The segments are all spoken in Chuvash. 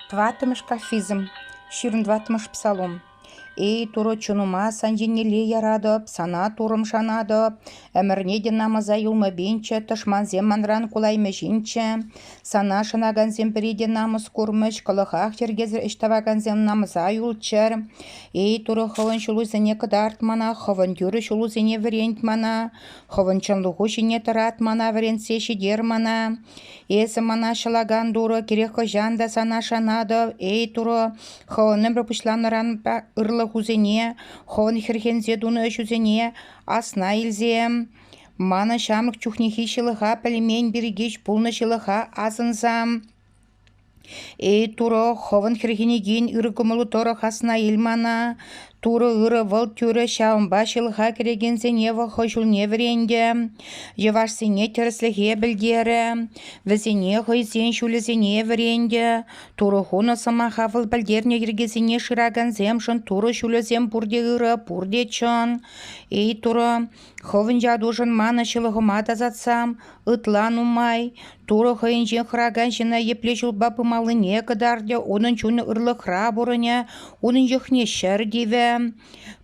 Тӑваттӑмӗш кафизм, ҫирӗм тӑваттӑмӗш псалом. Эй, Турӑ чунӑма сан еннелле яратӑп, сана Туррӑм шанатӑп, ӗмӗрне те намӑса юлмӑпинччӗ, тӑшмансем манран кулаймӗҫинччӗ. Сана шанакансем пӗри те намӑс курмӗҫ, кӑлӑхах йӗркесӗр ӗҫ тӑвакансем намӑса юлччӑр. Эй, Турӑ хӑвӑн ҫулусене кӑтарт мана, хӑвӑн тӳрӗ ҫулусене вӗрент мана, хӑвӑн чӑнлӑху ҫине тӑрат мана вӗрентсе ҫитер мана. Эсӗ мана ҫӑлакан Турӑ кирек хӑҫан та сана шанатӑп, эй Турӑ, Хӑвӑн ӗмӗр пуҫланнӑран ырлӑхусене, Хӑвӑн хӗрхенсе тунӑ ӗҫусене асна илсе мана ҫамрӑк чухнехи ҫылӑха пӗлмен пирки пулнӑ ҫылӑха асӑнса Эй, Турӑ, хӑвӑн хӗрхенекен ырӑ кӑмӑлу тӑрӑх асна ил мана. Турӑ ырӑ, вӑл тӳрӗ, ҫавӑнпа ҫылӑха кӗрекенсене вӑл хӑй ҫулне вӗрентӗ, йӑвашсене тӗрӗслӗхе пӗлтерӗ, вӗсене хӑйсен ҫулӗсене вӗрентӗ. Турӑ хунӑ сӑмаха вӑл пӗлтернӗ йӗркесене шыракансемшӗн Турӑ ҫулӗсем пурте ырӑ, пурте чӑн. Эй, Турӑ, Хӑвӑн ятушӑн манӑн ҫылӑхӑма тасатсам, ытла нумай. Турӑ хӑйӗнчен хӑракан ҫына епле ҫулпа пымаллине кӑтартӗ, унӑн чунӗ ырлӑхра пурӑнӗ, унӑн йӑхне ҫӗр тивӗ.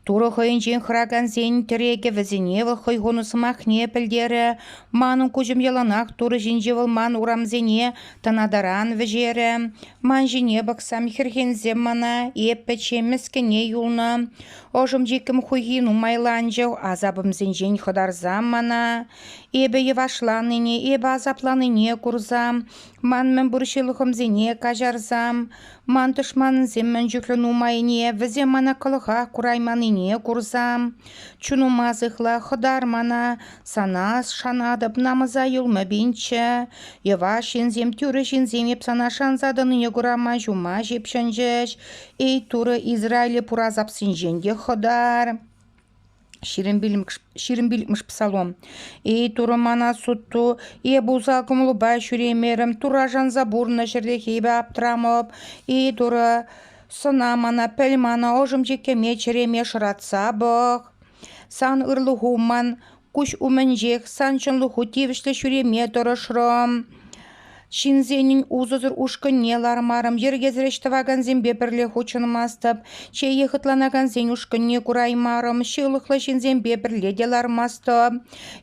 Турӑ хӑйӗнчен хӑракансен тӗрекӗ вӗсене вӑл хӑй хунӑ сӑмахне пӗлтерӗ. Манӑн куҫӑм яланах Турӑ ҫинче вӑл ман урамсене тӑнатаран вӗҫерӗ. Ман ҫине пӑхсам хӗрхенсем мана, эп пӗччен мӗскӗне юлнӑ. Ӑшӑм-чиккӗм хуйхи нумайланчӗ. Асапӑмсенчен хӑтарса мана эпӗ йӑвашланине, эпӗ асапланине курса, ман мӗнпур ҫылӑхӑмсене каҫарса, ман тӑшмансем мӗн чухлӗ нумайне, вӗсем мана кӑлӑхах курайманнине курса, чунума сыхла, хӑтар мана, сана шанатӑп, намӑса юлмӗ пинчче. Йӑваш ҫынсем, тӳрӗ ҫынсем эп сана шанса тӑнине кура ман ҫума ҫыпҫӑнчӗҫ. Эй, Турӑ Израиле пура сапсинчен те хӑтар. Ҫирӗм пиллӗкмӗш псалом. Эй, Турӑ мана сутту, эп усал кӑмӑлупа ҫӳремерӗм, Турра шанса пурнӑ ҫӗртехи эпӗ аптрамӑп. Эй, Турӑ, сана мана пӗл мана ӑшӑм чиккеме чӗреме шӑратса пӑх. Сан ырлӑху ман Куҫ умӗнчех сан чӑнлӑху тивӗҫлӗ ҫӳреме тӑрӑшрӑм. Ҫынсенӗн усӑсӑр ушкӑнне лармарӑм, йӗркесӗр ӗҫ тӑвакансемпе пӗрле хутшӑнмастӑп, чее хӑтланакансен ушкӑнне кураймарӑм, ҫылӑхлӑ ҫынсемпе пӗрле те лармастӑп.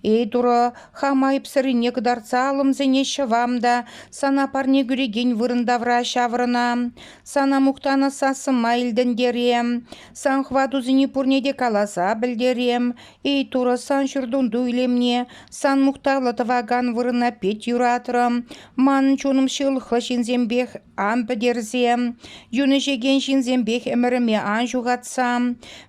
Эй, Турӑ, хам айӑпсӑррине кӑтартса алӑм сене ҫӑвам та сана парне кӳрекен вырӑн тавра ҫаврӑнам. Сана мухтанӑ сассӑма илтӗнтерем, сан хӑватусене пурне те каласа пӗлтерем. Эй, Турӑ, сан ҫуртунту илемне, сан мухтавлӑ тӑвакан вырӑна пит юратрӑм. Манӑн чунӑм ҫылӑхлӑ ҫынсемпех ан пӗтерсе, юн ӗҫекен ҫынсемпех ӗмӗрӗме ан ҫухатса.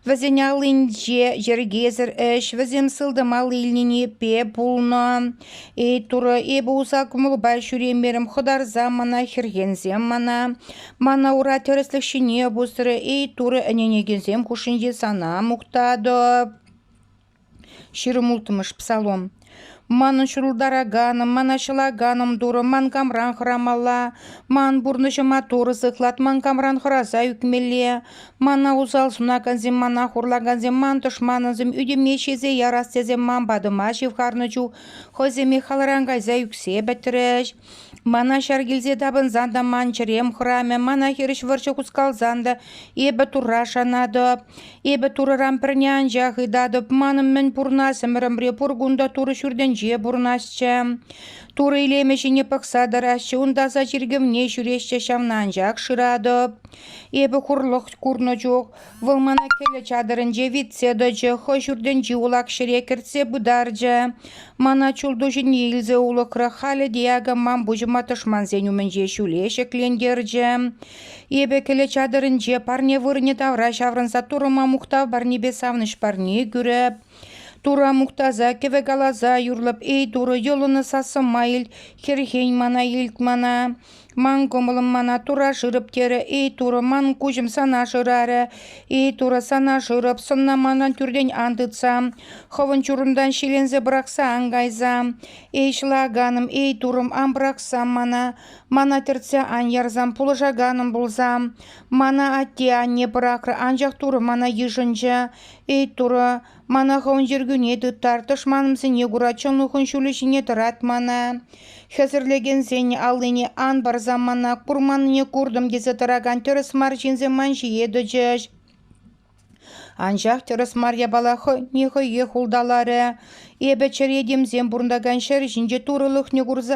Вӗсен аллинче йӗркесӗр ӗҫ, вӗсем сылтӑм алли илнине пе пулнӑ. Эй, Турӑ, эпӗ уса кӑмӑлпа ҫӳремерӗм, хӑтарса мана хӗрхенсем мана. Мана ура тӗрӗслӗх ҫине пусрӗ. Эй, Турӑ, ӗненекенсем хушшинче сана мухтатӑп. Ҫирӗм улттӑмӗш псалом. Манӑн ҫурӑлтараканӑм, мана ҫӑлаканӑм Турӑ, ман камран хӑрамалла. Ман пурнӑҫӑма Турӑ сыхлат, ман камран хӑраса ӳкмелле. Мана усал сунакансем, мана хурлакансем, ман тӑшманӑмсем ӳтӗме ҫисе ярас тесе ман патӑма ҫывхарнӑ чух хӑйсене халран кайса ӳксе пӗтрӗҫ. Мана ҫар килсе тапӑнсан та ман чӗрем хӑрамӗ, мана хирӗҫ вӑрҫӑ хускалсан та эпӗ Турра шанатӑп. Эпӗ Турӑран пӗрне анчах ыйтатӑп, манӑн мӗн пурӑнас ӗмӗрӗмре пур кун та Турӑ ҫуртӗнче пурӑнасчӗ. Турӑ илемӗ ҫине пӑхса тӑрасчӗ, ун таса чиркӗвне ҫӳресчӗ, ҫавна анчах шыратӑп. Эпӗ хурлӑх курнӑ чух вӑл мана кӗлӗ чатӑрӗнче витсе тӑчӗ, хӑй ҫуртӗнчи улах ҫӗре кӗртсе пытарчӗ. Мана чултуҫӗне илсе улӑхрӗ, халӗ те акӑ ман пуҫӑма тӑшмансен умӗнче ҫӳле ҫӗклентерчӗ. Эпӗ кӗлӗ чатӑрӗнче парне вырӑнӗ тавра ҫаврӑнса турӑма мухтав парнепе савӑнӑҫ парне кӳрӗп. Тура мухтаса, кӗвӗ каласа юрлӑп, эй Турӑ, йӑлӑннӑ сассӑма ил, хӗрхен мана, илт мана. Ман кӑмӑлӑм мана тура шырӑп терӗ. Эй, Турӑ, ман куҫӑм сана шырарӗ. Эй, Турӑ, сана шырӑп, сӑнна манӑн тӳртен ан тытса, хӑвӑн чурунтан ҫиленсе пӑрахса ан кайса. Эй, ҫӑлаканӑм, эй, Турӑм, ан пӑрахсам мана. Мана тӗртсе ан ярсам, пулӑшаканӑм пулсам. Мана атте-анне пӑрахрӗ, анчах Турӑ мана йышӑнчӗ. Эй, Турӑ, Мана хӑвӑн йӗркӳне тыттар, тӑшманӑмсене кура чӑнлӑхӑн ҫулӗ ҫине тӑрат мана. Хӗсӗрлекенсен аллине ан парсам мана, курманнине куртӑм тесе тӑракан тӗрӗс мар ҫынсем ман ҫие тӑчӗҫ. Анчах тӗрӗс мар япала хӑйне хӑйех улталарӗ. Эпӗ чӗре темсем пурӑнтакан ҫӗр ҫинче турӑлӑхне курса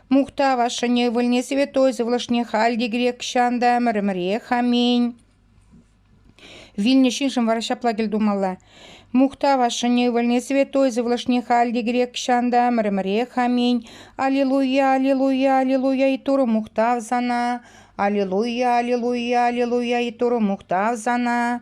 Мухтав ашшӗне, ывӑлне святой сывлӑшне халь те грек ҫан та ӗмӗрӗмӗрех, аминь. Вилнӗ ҫыншӑн вара ҫапла тӗл тумалла. Мухтав ашшӗне, ывӑлне, святой сывлӑшне халь те грек ҫан та ӗмӗрӗмӗрех, аминь. Аллилуйя, аллилуйя, аллилуйя и Туры мухтав сана. Аллилуйя, аллилуйя, аллилуйя и Туры мухтав сана.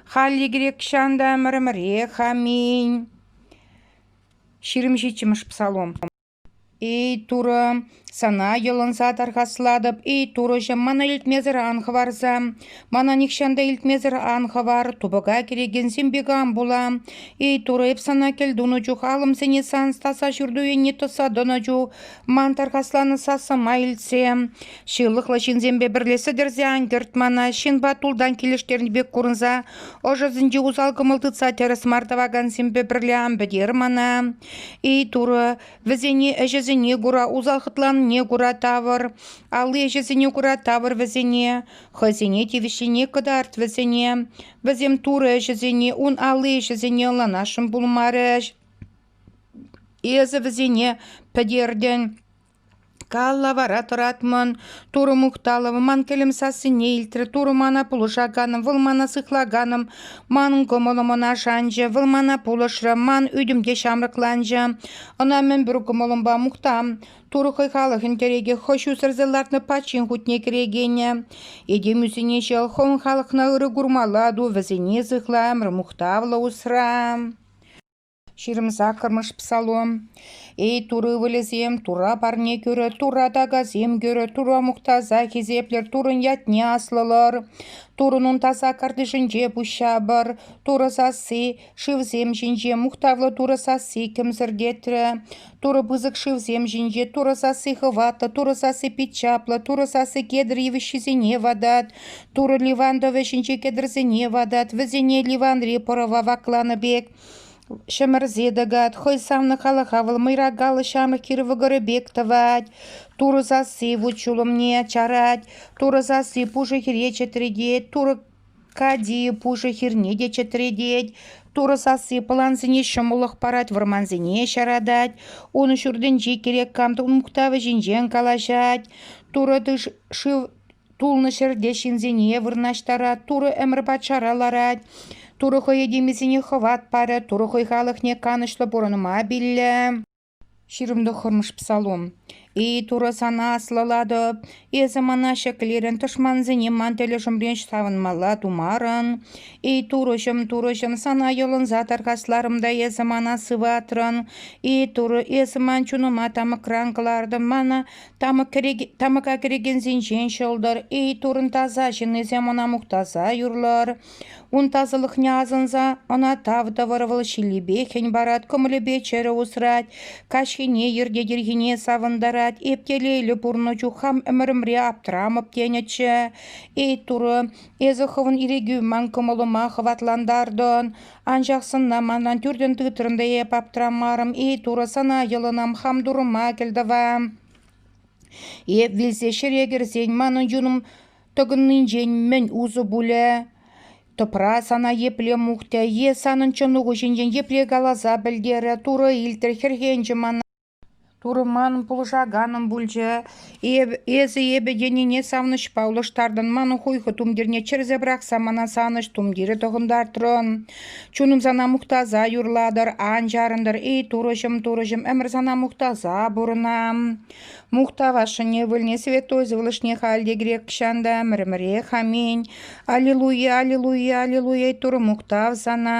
Халли грекчан та ӗмӗрӗмӗрех, аминь. Ҫирӗм ҫиччӗмӗш псалом. Эй Турӑ, Сана йӑлӑнса тархаслатӑп, эй Турӑҫӑм, мана илтмесӗр ан хӑварса. Мана нихҫан та илтмесӗр ан хӑвар, тупӑка кӗрекенсем пек ан пула. Эй Турӑ, эп Сана кӗлтунӑ чух алӑмсене Сан стаса ҫурту енне тӑса тӑнӑ чух Ман тархасланӑ сасӑма илтсе, ҫылӑхлӑ ҫынсемпе пӗрле сӗтӗрсе ан кӗрт мана, ҫынпа тултан килӗштернӗ пек курӑнса, ӑшӑсенчи усал кӑмӑл тытса тӗрӗс мар тӑвакансемпе пӗрле ан пӗтер мана. Эй, Турӑ, вӗсене ӗҫӗсене кура, усал хӑтланнине кура тавӑр, алли ӗҫӗсене кура тавӑр вӗсене, хӑйсене тивӗҫлине кӑтарт вӗсене. Вӗсем Турӑ ӗҫӗсене, ун алли ӗҫӗсене ӑнланасшӑн пулмарӗҫ. Эсӗ вӗсене пӗтертӗн. Калла вара тӑратмӑн. Турӑ мухталӑвӗ ман кӗлӗм сассине илтрӗ. Турӑ мана пулӑшаканӑм, вӑл мана сыхлаканӑм. Манӑн кӑмӑлӑм ӑна шанчӗ, вӑл мана пулӑшрӗ, ман ӳтӗм те ҫамрӑкланчӗ. Ӑна мӗнпур кӑмӑлӑмпа мухтам. Турӑ хӑй халӑхӗн тӗрекӗ, хӑй ҫусӑрсӑр лартнӑ пачин хутне кӗрекенӗ. Этем ӳсине ҫӑл, хӑвӑн халӑхна ырӑ курмалла ту, вӗсене сыхла, ӗмӗр мухтавлӑ усра. Ҫирӗм саккӑрмӗш псалом. Эй Турӑ ывӑлӗсем, Турра парне кӳрӗр, Турра такасем кӳрӗр, Турра мухтаса хисеплӗр, Туррӑн ятне аслӑлӑр. Туррӑн таса картишӗнче пуҫҫапӑр. Турӑ сасси шывсем ҫинче мухтавлӑ Турӑ сасси кӗмсӗртетрӗ. Турӑ пысӑк шывсем ҫинче Турӑ сасси хӑватлӑ, Турӑ сасси пит чаплӑ, Турӑ сасси кедр йывӑҫҫисене ватать. Турӑ Ливан тӑвӗ ҫинче кедрсене ватать, вӗсене Ливанри пӑрӑва вакланӑ пек. Ҫӗмӗрсе тӑкать, хӑй савнӑ халӑха вӑл мӑйракаллӑ ҫамрӑк хир вӑкӑрӗ пек тӑвать. Турӑ сасси вут-ҫулӑмне чарать, Турӑ сасси пушӑ хире чӗтретет, Турӑ кати пушӑ хирне те чӗтретет. Турӑ сасси пӑлансене ҫӑмӑллӑх парать, вӑрмансене ҫаратать. Ун ҫуртӗнчи кирек кам мухтавӗ ҫинчен калаҫать. Турӑ тыш шыв Тулнӑ ҫӗрте ҫынсене вырнаҫтарать, Турӑ ӗмӗр патшара ларать. Турӑ хӑй этемӗсене хӑват парӗ, Турӑ хӑй халӑхне канӑҫлӑ пурӑнма пиллӗ. Ҫирӗм тӑххӑрмӗш псалом «Эй, Турӑ, сана аслӑлатӑп, эсӗ мана ҫӗклерӗн, тӑшмансене ман тӗлӗшӗмрен савӑнмалла тумарӑн. Эй, Турӑҫӑм, Турӑҫӑм, сана йӑлӑнса тархасларӑм та эсӗ мана сыватрӑн. Эй, Турӑ, эсӗ ман чунӑма тамӑкран кӑлартӑн, мана Тамӑка кӗрекенсенчен ҫӑлтӑр. Эй, турӑн таса ҫыннисем ӑна мухтаса юрлӑр. Ун тасалӑхне асӑнса ӑна тав тӑвӑр. Вӑл ҫиллипе хӗн парать, кӑмӑлӗпе чӗрӗ усрать, каҫхине йӗрте-тирхине савӑнтарать. Эптелейлӗ пурӑннӑ чух хам ӗмӗрӗмре аптрамӑп тенӗччӗ. Эй, турӑ, эсӗ хӑвӑн ирӗкӳ ман кӑмӑлӑма хӑватлантартӑн. Анчах сӑнна манран тӳртен тытрӑн та эп аптрамарӑм-и, Турӑ сана йӑлӑнам хам турӑма кӗлтӑва. Эп вилсе ҫӗре кӗрсен манӑн юнӑм тӑкӑннинчен мӗн усӑ пулӗ? Тӑпра сана епле мухтӗ е санӑн чӑнуху ҫинчен епле каласа пӗлтерӗ? Турӑ илтрӗ хӗрхенчӗ мана. Турман пулӑшаканӑм пулчӗ. Эсӗ эпӗ тенине савӑнӑҫпа улӑштартӑн. Ман хуйхӑ тумтирне чӗрсе пӑрахса мана савӑнӑҫ тумтирӗ тӑхӑнтартрӑн. Чунӑм сана мухтаса юрлатӑр, ан чарӑнтӑр. Эй, турӑҫӑм, турӑҫӑм, ӗмӗр сана мухтаса пурӑнам. Мухтавасшӑн ывӑлне, святой сывлӑшне халь те грекчан та ӗмӗр-ӗмӗрех аминь. Аллилуйя, аллилуйя, аллилуйя, Турӑ мухтав сана.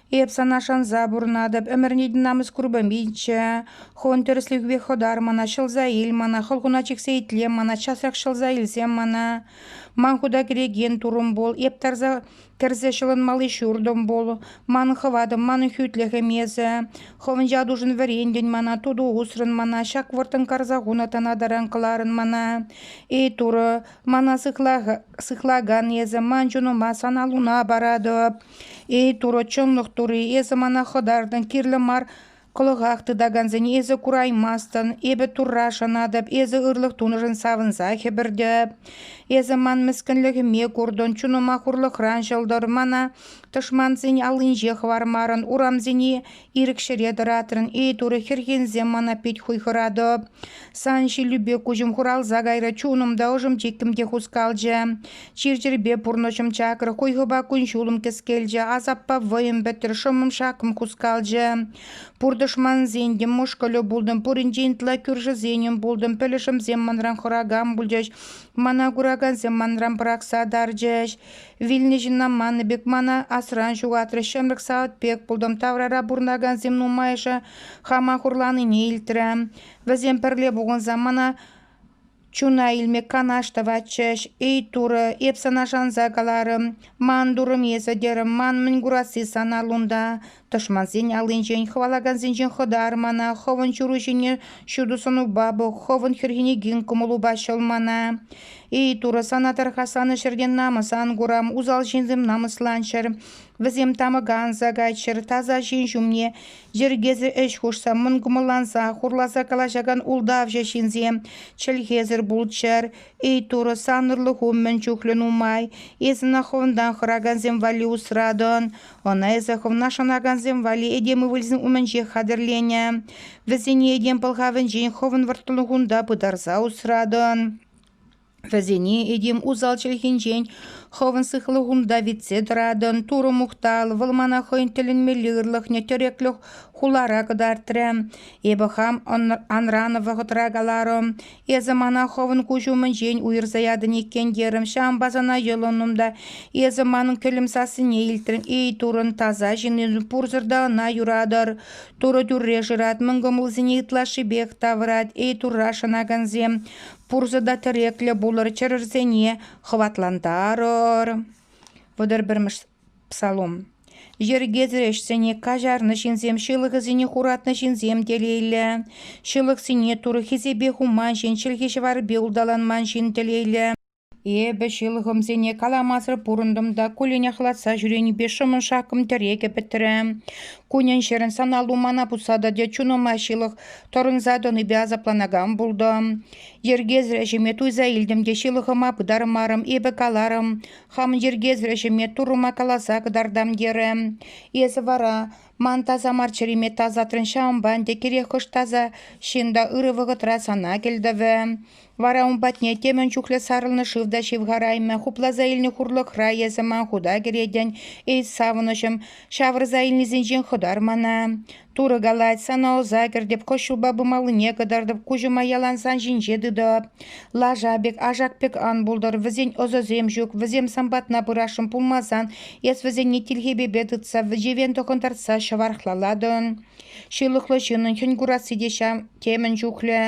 Эп сана шанса пурӑнатӑп, ӗмӗрне намӑс курпӑм пичче. Хон тӗрӗслӗхӳпе хӑтар мана, ҫӑлса ил мана, хӑлхуна чиксе итлем мана, часрах ҫӑлса илсем мана. Ман хута кӗрекен турӑм пул, эп тарса кӗрсе ҫӑлӑнмалли ҫуртӑм пул. Манӑн хӑватӑм, манӑн хӳтлӗхӗм эсӗ. Хӑвӑн ятушӑн вӗрентӗн мана, туту усрӑн мана, ҫак вӑрттӑн карса хунӑ тана таран кӑларӑн мана. Эй турӑ, мана сыхлакан эсӗ, ман чунӑма сан аллуна паратӑп. Эй, Турӑ, чӑнлӑх Тури, эсӗ мана хӑтартӑн, кирлӗ мар кӑлӑхах тытакансене эсӗ кураймастӑн. Эпӗ Турра шанатӑп, эсӗ ырлӑх тунӑшӑн савӑнса хӗпӗртӗп. Эсӗ ман мӗскӗнлӗхӗме куртӑн, чунӑма хурлӑхран ҫӑлтӑр. Мана тӑшмансен аллинче хӑвармарӑн, урамсене Ирӗк ҫӗре тӑратрӑн, эй Турӑ, хӗрхенсем мана пит хуйхӑратӑп. Сан ҫиллӳпе куҫӑм хуралса кайрӗ, чунӑм та, ӑшӑм-чиккӗм те хускалчӗ. Чир-чӗрпе пурнӑҫӑм чакрӗ, хуйхӑпа кун-ҫулӑм кӗскелчӗ, асаппа вӑйӑм пӗтрӗ, шӑммӑм-шаккӑм хускалчӗ. Пур тӑшмансен мӑшкӑлӗ пултӑм, пуринчен ытла кӳршӗсенӗм пултӑм, пӗлӗшӗмсем манран хӑракан пулчӗҫ, мана куракансем манран пӑрахса тарчӗҫ. Вилнӗ ҫынна маннӑ пек мана асран ҫухатрӗ. Ҫӗмрӗк савӑт пек пултӑм. Таврара пурӑнакансем нумайӑшӗ хама хурланине илтрӗ. Вӗсем пӗрле пухӑнса мана чуна илме канаш тӑватчӗҫ. «Эй, Турӑ, эп сана шанса каларӑм, ман турӑм эсӗ», терӗм. «Ман мӗн курасси сан аллунта? Тӑшмансен аллинчен хӑвалакансенчен хӑтар мана, хӑвӑн ҫуру ҫине ҫутӑ сӑнупа пӑх, хӑвӑн хӗрхене гин кӑмӑлупа ҫӑл мана. Эй, Турӑ, сана тӑрха санӑн ҫӗртен намӑс ан курам, усал ҫынсем намӑсланччӑр. Вӗсем тамӑка анса кайччӑр, таса ҫын ҫумне йӗркесӗр ӗҫ хушса, мӑнкӑмӑлланса, хурласа калаҫакан ултавҫӑ ҫынсем чӗлхесӗр пулччӑр. Эй, Турӑ, санӑрлӑху мӗн чухлӗ нумай. Эс ӑна хӑвӑнтан хӑракансем валли усратӑн. Ӑна эсӗ хӑвна шанакансем валли этем ывӑлӗсен умӗнчех хатӗрленӗ. Вӗсене этем пӑлхавӗнчен хӑвӑн вӑрттӑнлӑхунта пытарса усратӑн. Вӗсене этем усал чӗлхинчен хӑвӑн сыхлӑхунта витсе тӑратӑн. Турӑ мухтал, вӑл мана хӑйӗн тӗлӗнмелле ырлӑхне тӗреклӗх хулара кӑтартрӗ. Эпӗ хам анран вӑхӑтра каларӑм, Эсӗ мана хӑвӑн куҫ умӗнчен уйӑрса ятӑн иккен терӗм. Ҫавӑнпа сана йӑлӑннӑм та эсӗ манӑн кӗлӗм сассине илтрӗн. Эй, Турӑн таса ҫыннин, пурсӑр та ӑна юратӑр. Турӑ тӳрре шырать, мӑн кӑмӑлсене ытлашшипех тавӑрать. Эй, Турра шанакансем, пурсӑр та тӗреклӗ пулӑр, чӗрӗрсене хӑватлантарӑр. Вӑтӑр пӗрмӗш Псалом. Йӗркесӗр ӗҫсене каҫарнӑ ҫынсем ҫылӑхӗсене хуратнӑ ҫынсем телейлӗ. Ҫылӑхсене Турӑ хисепе хуман ҫын, чӗлхи-ҫӑварпе улталанман ҫын телейлӗ. Эпӗ ҫылӑхӑмсене каламасӑр пурӑнтӑм та куллен ахлатса ҫӳренипе шӑмӑршаккӑм тӗрекӗ пӗтрӗ. Кунӗн-ҫӗрӗн саналу мана пусса тӑчӗ, чунӑма ҫылӑх тӑрӑнса тӑнипе асапланакан пултӑм. Йӗркесӗр ӗҫӗме туйса илтӗм те ҫылӑхӑма пытармарӑм, эпӗ каларӑм, хам йӗркесӗр ӗҫӗме Туррӑма каласа кӑтартам терӗ. Эсӗ вара ман таса мар чӗриме тасатрӑн, ҫавӑнпа ӗнтӗ кирек хӑш таса ҫын та ырӑ вӑхӑтра сана кӗлтӑвӗ. Вара ун патне темӗн чухлӗ сарӑлнӑ шыв та ҫывхараймӗ, хупласа илнӗ хурлӑхра эсӗ ман хута кӗретӗн, эй савӑнӑҫӑм, ҫавӑрса илнисенчен хӑтар мана. Турӑ калать, сана ӑса кӗртӗп, кӑҫҫулпа пымаллине кӑтартӑп, куҫӑма ялансан ҫинҫе тытӑп. Лаша пек, ашак пек ан пултӑр, вӗсен ӑсӗсем ҫук, вӗсем сан патна пырасшӑн пулмасан, эс вӗсене тилхепепе тытса, вӗчевен тӑхӑнтартса ҫӑвархлалатӑн. Ҫылӑхлӑ ҫыннӑн хӗн курасси те ҫав темӗн чухлӗ.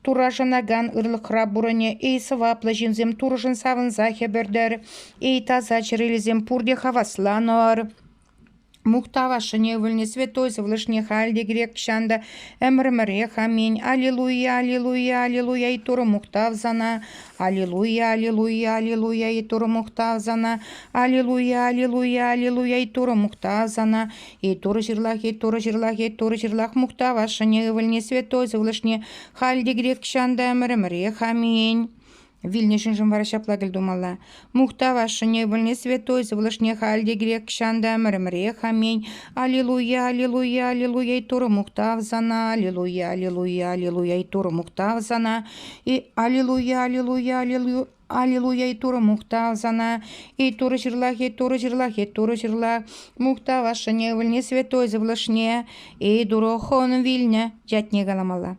Турра шанакан ырлӑхра пурӑнӗ. Эй, сӑваплӑ ҫынсем, Турӑшӑн савӑнса хӗпӗртӗр. Эй, таса чӗрелесем, пурте хавасланӑр. Мухтавашшӑн ывӑлне святой сывлӑшне халь те грек-ҫан та ӗмӗр-ӗмӗрех аминь. Аллилуйя, аллилуйя, аллилуйя и Турӑ мухтав сана. Аллилуйя, аллилуйя, аллилуйя и Турӑ мухтав сана. Аллилуйя, аллилуйя, аллилуйя и Турӑ мухтав сана. И Турӑ ҫырлах, и Турӑ ҫырлах, и Турӑ ҫырлах мухтавашшӑн ывӑлне святой сывлӑшне халь те грек-ҫан та ӗмӗр-ӗмӗрех аминь. Вилнӗ ҫыншӑн вара ҫапла кӗлтумалла. Мухтавашшӑне вӗлне святой сывлӑшне халь те кирек чан та ӗмӗрӗмӗрех аминь. Аллилуйя, аллилуйя, аллилуйя и Турӑ мухтав сана, аллилуйя, аллилуйя, аллилуйя и Турӑ мухтав сана, и аллилуйя, аллилуйя, аллилуйя, Аллилуйя и Турӑ мухтав сана, и Турӑ ҫырлах, и Турӑ ҫырлах, и Турӑ ҫырлах, мухтав ашшӗне, вӗлне святой сывлӑшне, и Турӑ хӑвӑн вилнӗ ятне каламалла.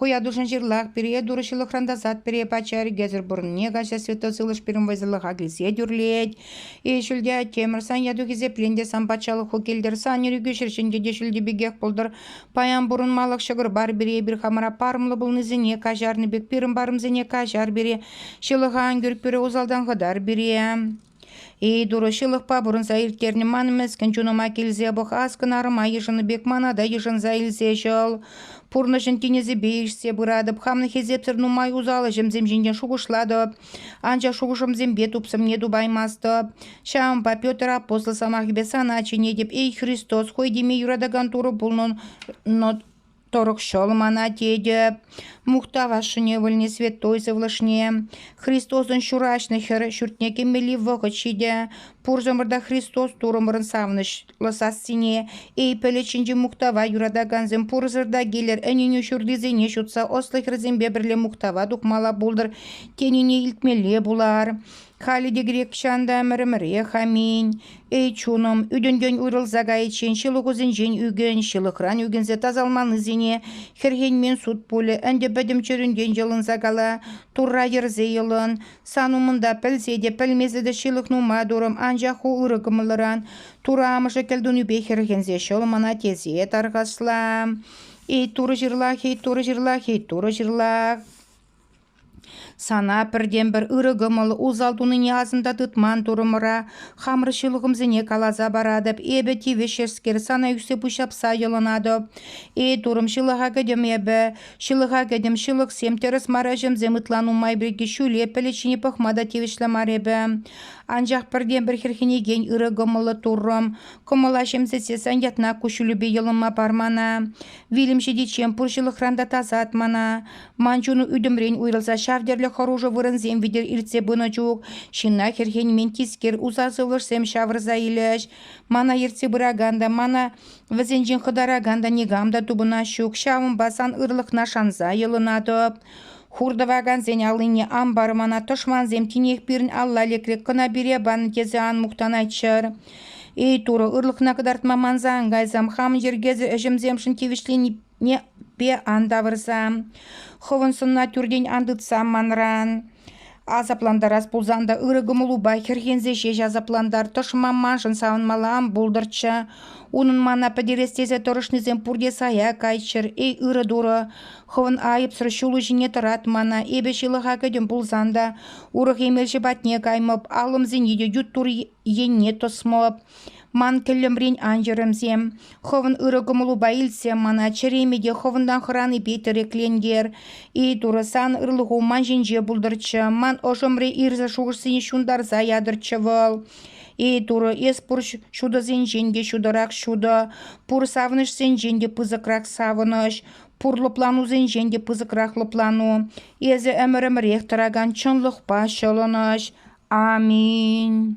Хуятушӑн ҫырлах, пире турӑ ҫылӑхран тасат, пире пача ӗркесӗр пурӑнне каҫа светло сывлӑш пирӗн вӑйсӑрлӑха килсе тӳрлет. Эй ҫӳлте Темӗр, сан яту хисеплен те, сан патшалӑху килтӗр, сан ирӗкӳ ҫӗрҫинче те ҫӳлти пекех пултӑр. Паян пурӑнмалӑх ҫӑкӑр бар пире, эпир хамӑра парӑмлӑ пулнисене каҫарнӑ пек, пирӗн парӑмсене каҫар пире, ҫылӑха ан кӳр пире, усалтан хӑтар пире. Эй, Турӑ ҫылӑхпа пурӑнса ирттернӗ ман мӗскӗн чунӑма килсе пӑхас кӑнарӑма йышӑннӑ пек мана та йышӑнса илсе ҫӑл. Пурнӑҫӑн тинӗсӗпе ишсе пыратӑп, хамӑн хисепсӗр нумай усал ӗҫӗмсем ҫинчен шухӑшлатӑп, анчах шухӑшӑмсемпе тупсӑмне тупаймастӑп. Ҫавӑнпа Петр апостол сӑмахӗпе сана чӗнетӗп, эй Христос, хӑй теме юратакан Турӑ пулнӑ Торӑхҫӑл мана тетӗп, мухтав ашшӗне вӗлне святой сывлӑшне, Христосӑн ҫураҫнӑ хӗр ҫуртне кӗмелли вӑхӑт ҫитӗ. Пурсӑмӑр та Христос Турӑмӑрӑн савӑнӑҫлӑ сассине, эй пӗлӗт ҫинчи мухтава юратакансем, пурсӑр та килӗр, ӗненӳ ҫуртисене ҫутса ӑслӑ хӗрсемпе пӗрле мухтава тухмалла пултӑр, тенине илтмелле пулар. Халӗ те грекчан та ӗмӗрӗмӗрех аминь. Эй, чунӑм, ӳтӗнтен уйрӑлса кайиччен ҫылӑхусенчен ӳкӗн, ҫылӑхран ӳкӗнсе тасалманнисене хӗрхенмен суд пулӗ. Ӗнтӗ пӗтӗм чӗрӳнтен йӑлӑнса кала, Турра йӗрсе йӑлӑн. Сан умӑнта пӗлсе те пӗлмесӗ те ҫылӑх нумай турӑм, анчах ку ырӑ кӑмӑллӑран Турӑ амӑшӗ кӗлтунипе хӗрхенсе ҫӑл мана тесе тархасла. Эй, Турӑ ҫырлах, эй, Турӑ ҫырлах, эй, Турӑ ҫырлах. Сана пӗртен-пӗр ырӑ кӑмӑл, усал тунине асӑнса тытман турӑмӑра хамӑр ҫылӑхӑмсене каласа паратӑп. Эпӗ тивӗҫскер сана ӳссе пуҫҫапса йӑлӑнатӑп. Эй, турӑм, ҫылӑха кӗтӗм эпӗ. Ҫылӑха кӗтӗм. Ҫылӑхсем тӗрӗс мар, ӗҫӗмсем ытла нумай пирки ҫӳле пӗлӗт ҫине пӑхма та тивӗҫлӗ мар эпӗ. Анчах пӗртен-пӗр хӗрхенекен ырӑ кӑмӑллӑ туррӑм. Кӑмӑла ҫемсетсессӗн ятна куҫҫулӗпе йӑлӑнма пар мана. Вилӗм ҫитиччен пур ҫылӑхран та тасат мана. Ман чун ӳтӗмрен уйрӑлса ҫав тӗрлӗ хӑрушӑ вырӑнсем витӗр иртсе пынӑ чух ҫынна хӗрхенмен тискер уса сывлӑшсем ҫавӑрса илӗҫ. Мана ертсе пыракан та, мана вӗсенчен хӑтаракан та никам та тупӑнас ҫук. Ҫавӑнпа сан ырлӑхна шанса йӑлӑнатӑп. Хур тӑвакансен аллине ан пар, мана тӑшмансем тинех пирӗн алла лекрӗк кӑна пире панӑ тесе ан мухтанайччӑр. Эй, Турӑ, ырлӑхна кӑтартма манса ан кайсам, хамӑн йӗркесӗр ӗҫӗмсемшӗн тивӗҫлени Непе ан тавӑрсан, хӑвӑн сӑнна тӳртен ан тытсан манран. Асаплантарас пулсан та ырӑ кӑмӑлупа хӗрхенсе ҫеҫ асаплантар. Тӑшман маншӑн савӑнмалла ан пултӑрччӗ. Унӑн мана пӗтерес тесе тӑрӑшнисем пурте сая кайччӑр. Эй, ырӑ турӑ, хӑвӑн айӑпсӑр ҫулу ҫине тӑрат мана. Эпӗ ҫылӑха кӗтӗм пулсан та урӑх эмелҫӗ патне каймӑп, аллӑмсене те ют тур енне тӑсмӑп. Ман тӗллӗмрен ан чӑрӑмсем. Хӑвӑн ырӑ кӑмӑлупа илтсем мана чӗреме те хӑвӑнтан хӑранипе тӗреклентер. Эй, Турӑ, сан ырлӑху ман ҫинче пултӑрччӗ, ман ӑшӑмри ирсӗр шухӑшсене ҫунтарса ятӑрччӗ вӑл. Эй, Турӑ, эс пур ҫутӑсенчен те ҫутӑрах ҫутӑ, пур савӑнӑҫсенчен те пысӑкрах савӑнӑҫ, пур лӑпланусенчен те пысӑкрах лӑплану. Эсӗ ӗмӗрӗмӗрех тӑракан чӑнлӑхпа ҫӑлӑнӑҫ. Аминь.